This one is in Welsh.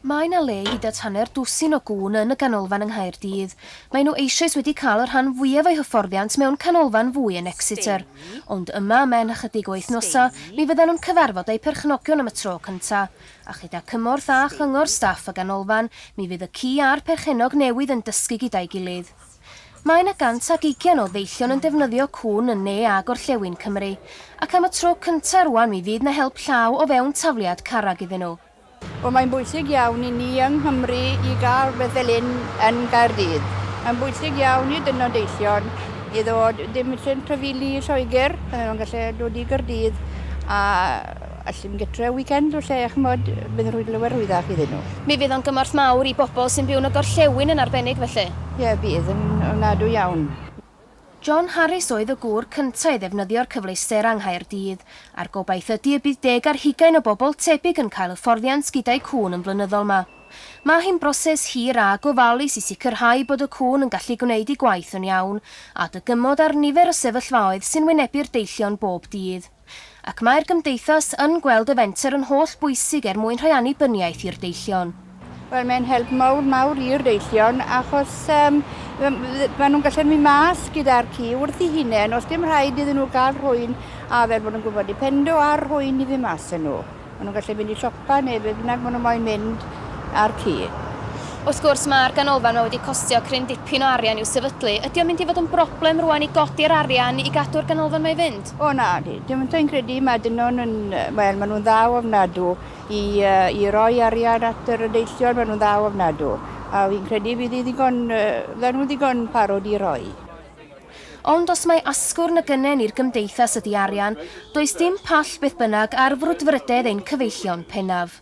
Mae 'na le i hyd at hanner dwsin o gŵn yn y ganolfan yng Nghaerdydd. Maen nhw eisoes wedi cael y rhan fwyaf o'u hyfforddiant mewn canolfan fwy yn Exeter. Ond yma, ymhen ychydig o wythnosau, mi fyddan nhw'n cyfarfod eu perchnogion am y tro cyntaf. A chyda cymorth a chyngor staff y ganolfan, mi fydd y ci a'r perchennog newydd yn dysgu gyda'i gilydd. Mae yna 120 o ddeillion yn defnyddio cŵn yn ne a gorllewin Cymru, ac am y tro cyntaf rŵan mi fydd 'na help llaw o fewn tafliad carreg iddyn nhw. Wel mae'n bwysig iawn i ni yng Nghymru i gael rhywbeth fel hyn yn Gaerdydd. Mae'n bwysig iawn i dynod deillion i ddod, dim isie trafeili i Lloegr, pan maen nhw'n gallu dod i Gaerdydd a Allwn gytre weekend o lle ch'mod bydd yn rhoi lawer o wyddhaf iddyn nhw. Mi fydd o'n gymorth mawr i bobl sy'n byw yn y gorllewin yn arbennig felly. Ie bydd yn ofnadwy iawn. John Harris oedd y gŵr cynta' i ddefnyddio'r cyfleusder yng Nghaerdydd, a'r gobaith ydi y bydd deg ar hugain o bobl tebyg yn cael hyfforddiant gyda'u cŵn yn flynyddol 'ma. Ma' hi'n broses hir a gofalus i sicrhau bod y cŵn yn gallu gwneud ei gwaith yn iawn, a dygymod ar nifer y sefyllfaoedd sy'n wynebu'r deillion bob dydd. ac mae'r Gymdeithas yn gweld y fenter yn holl bwysig er mwyn rhoi annibyniaeth i'r deillion. Wel, mae'n help mawr, mawr i'r deillion, achos um, maen nhw'n gallu mynd mas gyda'r ci wrth i hunain, os dim rhaid iddyn nhw gael rhwy'n a fel bod nhw'n gwybod i pendo ar rhwy'n i ddim mas yn nhw. Maen nhw'n gallu mynd i siopa neu be bynnag maen nhw moyn mynd a'r ci. Wrth gwrs, mae'r ganolfan 'ma wedi costio cryn dipyn o arian i'w sefydlu. Ydy o'n mynd i fod yn broblem rŵan i godi'r arian i gadw'r ganolfan 'ma i fynd? O nadi, dwi'm sa i'n credu. Mae dynon yn, wel, maen nhw'n dda ofnadw i i roi arian at yr deillion, maen nhw'n dda ofnadw, a fi'n credu fydd hi ddigon, fyddan nhw'n ddigon parod i roi. Ond os mai asgwrn y gynnen i'r gymdeithas ydi arian, does dim pall beth bynnag ar frwdfrydedd ein cyfeillion pennaf.